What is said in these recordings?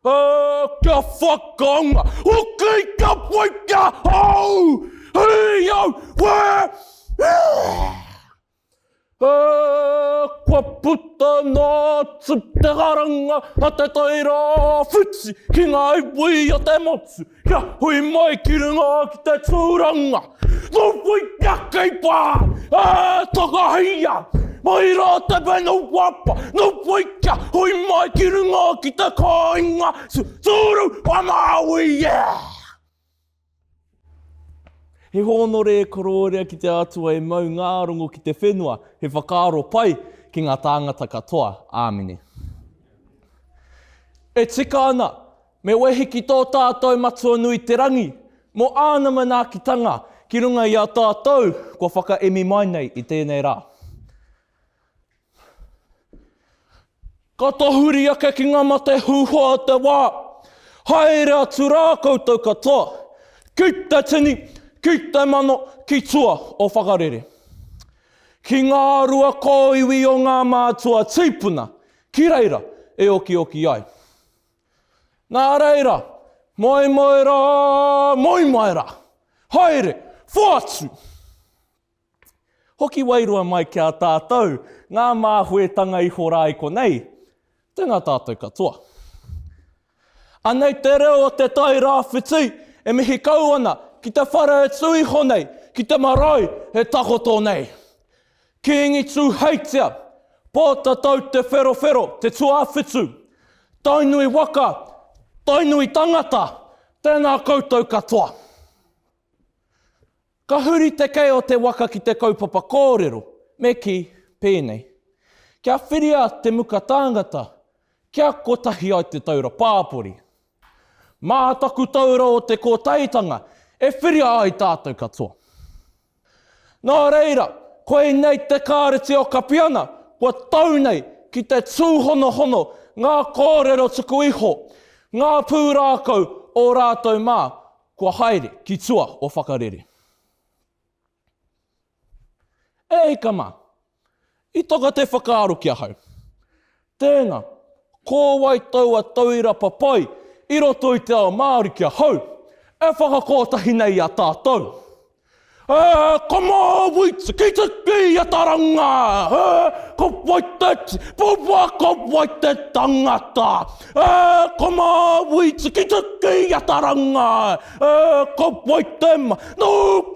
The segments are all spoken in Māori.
Oh, kia whakaonga! Okay, kia whai kia hau! Hei au! Where? Uh, kua puta nā te karanga a te taira whiti ki ngā iwi o te motu. Kia hui mai ki runga ki te tūranga, no whai kia kei pā, ā, takahia, mai rā te whenu whapa, no whai kia hui mai ki runga ki te kāinga, su, sūru, whamaui, yeah! He hōnore e korōria ki te Atua e mau ngā rongo ki te whenua, he whakaaro pai ki ngā tāngata katoa. Āmine. E tika ana! Me wehi ki tō tātou Matua nui te Rangi, mō Āna manaakitanga ki runga i a tātou kua whakaemi mai nei i tēnei rā. Ka tahuri ake ki ngā mate hūhā o te wā, haere atu rā koutou katoa, ki te tini, ki te mano, ki tua o whakarere. Ki ngā rua kōiwi o ngā mātua tīpuna, ki reira e okioki ai. Nā reira, moe moe rā, moe mai rā. Haere, whaatu! Hoki wairua mai ki a tātou ngā māhuetanga iho rā i konei, tēnā tātou katoa. Anei te reo o Te Tai Rāwhiti e mihi kau ana ki te whare e tū iho nei, ki te marae e takoto nei. Kīngi Tūheitia, Pōtatau Te Wherowhero, Te Tuawhitu, Tainui waka, Tainui tangata, tēnā koutou katoa. Ka huri te kei o te waka ki te kaupapa kōrero, me kī, pēnei, Kia whiria te muka tāngata, kia kotahi ai te taura pāpori. Mā taku taura o te kōtaitanga e whiria ai tātou katoa. Nā reira, koinei te Kāreti o Kapiana kua tau nei ki te tūhonohono ngā kōrero tuku iho, ngā pūrākau o rātou mā kua haere ki tua o Whakarere. E hika mā! I taka te whakaaro ki ahau, tēnā, ko wai taua tauira papai i roto i te ao Māori ki ahau, e whakakotahi nei i a tātou? E, ka māuitia, ki te kīataranga, e, ka wai te tipua, ka wai te tangata, e, ka māuitia ki te kīataranga, E, ka whai te ma... Nō,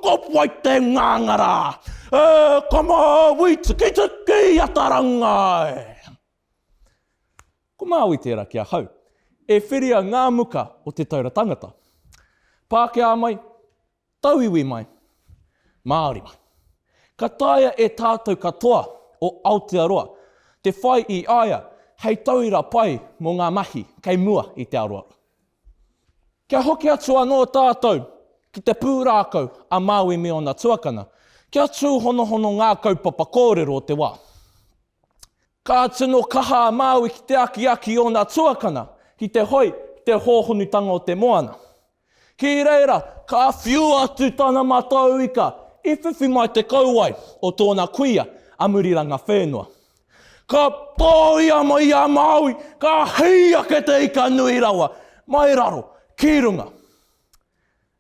ka whai te ngāngara! E, ka māui tikitiki i a Tarangai! Ko Māui tērā ki ahau. E whiria ngā muka o Te Taura Tangata. Pākehā mai, Tauiwi mai, Māori mai. Ka taea e tātou katoa o Aotearoa te whai i a ia hei tauira pai mō ngā mahi kei mua i te aroaro. Kia hoki atu anō tātou ki te pūrākau a Māui me ōna tuakana, kia tūhonohono ngā kaupapa kōrero o te wā. Ka tino kaha a Māui ki te akiaki i ōna tuakana ki te hoi ki te hōhonutanga o te moana. Ki reira, ka whiu atu tana matau ika i whiwhi mai te kauae o tōna kuia a Murirangawhenua. Ka tōia mai a Māui, ka hei ake te ika nui rawa, mai raro, ki runga.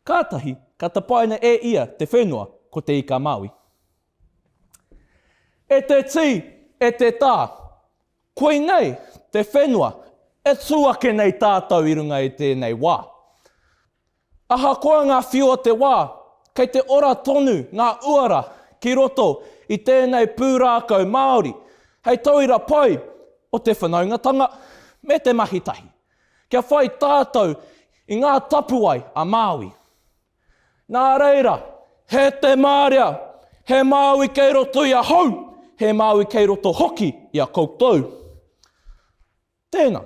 Kātahi ka tapaina e ia te whenua ko te ika Māui. E te tī, e te tā, koinei te whenua e tū ake nei tātou i runga i tēnei wā. Ahakoa ngā whiu o te wā, kei te ora tonu ngā uara ki roto i tēnei pūrākau Māori hei tauira pai o te whanaungatanga me te mahi tahi, kia whai tātou i ngā tapuwae a Māui. Nā reira. He te marea, he Māui kei roto i ahau, he Māui kei roto hoki i a koutou. Tēnā,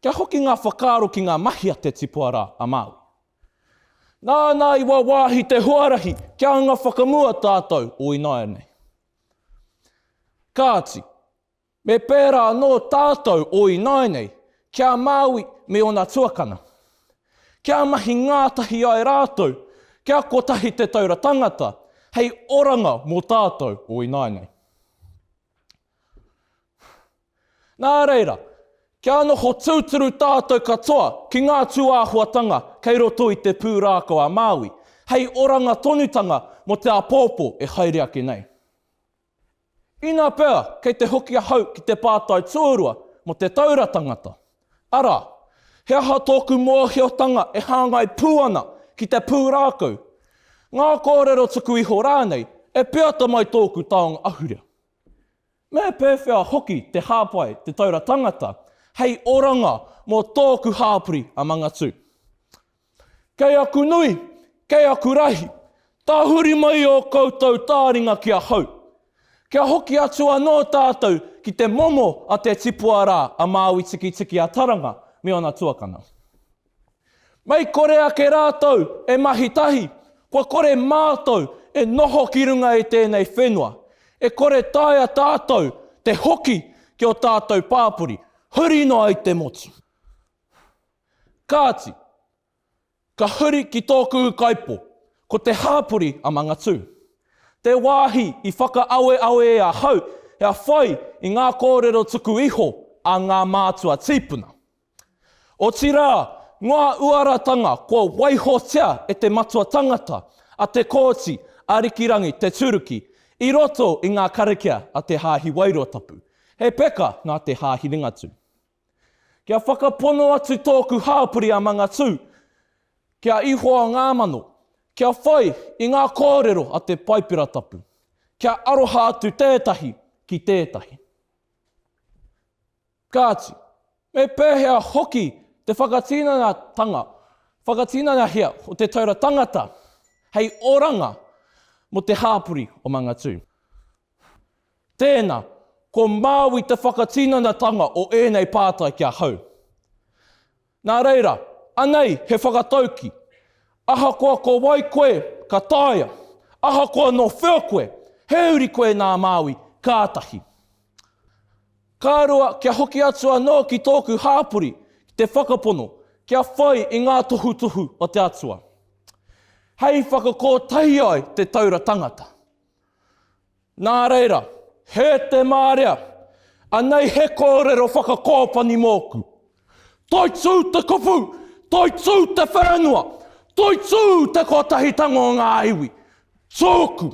kia hoki ngā whakaaro ki ngā mahi a te tipua rā, a Māui. Nāna i wāwāhi te huarahi kia anga whakamua tātou o ināianei. Kāti, me pērā anō tātou o ināianei ki a Māui me ōna tuakana. Kia mahi ngātahi ai rātou, kia kotahi Te Taura Tangata hei oranga mō tātou o ināianei. Nā reira, kia noho tūturu tātou katoa ki ngā tūāhuatanga kei roto i te pūrākau a Māui, hei oranga tonutanga mō te āpōpō e haere ake nei. Inā pea kei te hoki ahau ki te pātai tuarua mō Te Taura Tangata, arā, he aha tōku mōhiotanga e hāngai pū ana ki te pūrākau, ngā kōrero tuku iho rānei e peata mai tōku taonga ahurea? Me pēwhea hoki te hāpai Te Taura Tangata hei oranga mō tōku hāpori a Mangatū? Kei aku nui, kei aku rahi, tahuri mai ō koutou tāringa ki ahau. Kia hoki atu anō tātou ki te momo a te tipua rā a Māui Tikitiki-a-Taranga me ōna tuakana. Mei kore ake rātou e mahi tahi, kua kore mātou e noho ki runga i tēnei whenua. E kore taea tātou te hoki ki ō tātou pāpori, huri noa i te motu. Kāti, ka huri ki tōku ukaipo, ko te hāpori a Mangatū. Te wāhi i whakaaweawe e ahau kia whai i ngā kōrero tuku iho a ngā mātua tīpuna. Otirā, ngā uaratanga kua waihotia e te matua tangata, a Te Kooti, Arikirangi, Te Turuki, i roto i ngā karakia a Te Haahi Wairoatapu. He peka nā Te Haahi Ringatū. Kia whakapono atu tōku hāpori a Mangatū ki a Ihoa Ngāmano, kia whai i ngā kōrero a te Paipera Tapu, kia aroha atu tētahi ki tētahi. Kāti, me pēhea hoki te whakatinanatanga, whakatinanahia o Te Taura Tangata hei oranga mō te hāpori o Mangatū? Tēnā, ko Māui te whakatinanatanga o ēnei pātai ki ahau. Nā reira, anei he whakatauki, ahakoa ko wai koe, ka taea, ahakoa nō whea koe, he uri koe nā Māui, kātahi. Ka rua, kia hoki atu anō ki tōku hāpori, ki te whakapono, kia whai i ngā tohutohu o te Atua, hei whakakōtahi ai te taura tangata. Nā reira, hē te mārea, anei he kōrero whakakōpani mōku. Toitū te kupu, toitū te whenua, toitū te kotahitanga o ngā iwi. Tōku.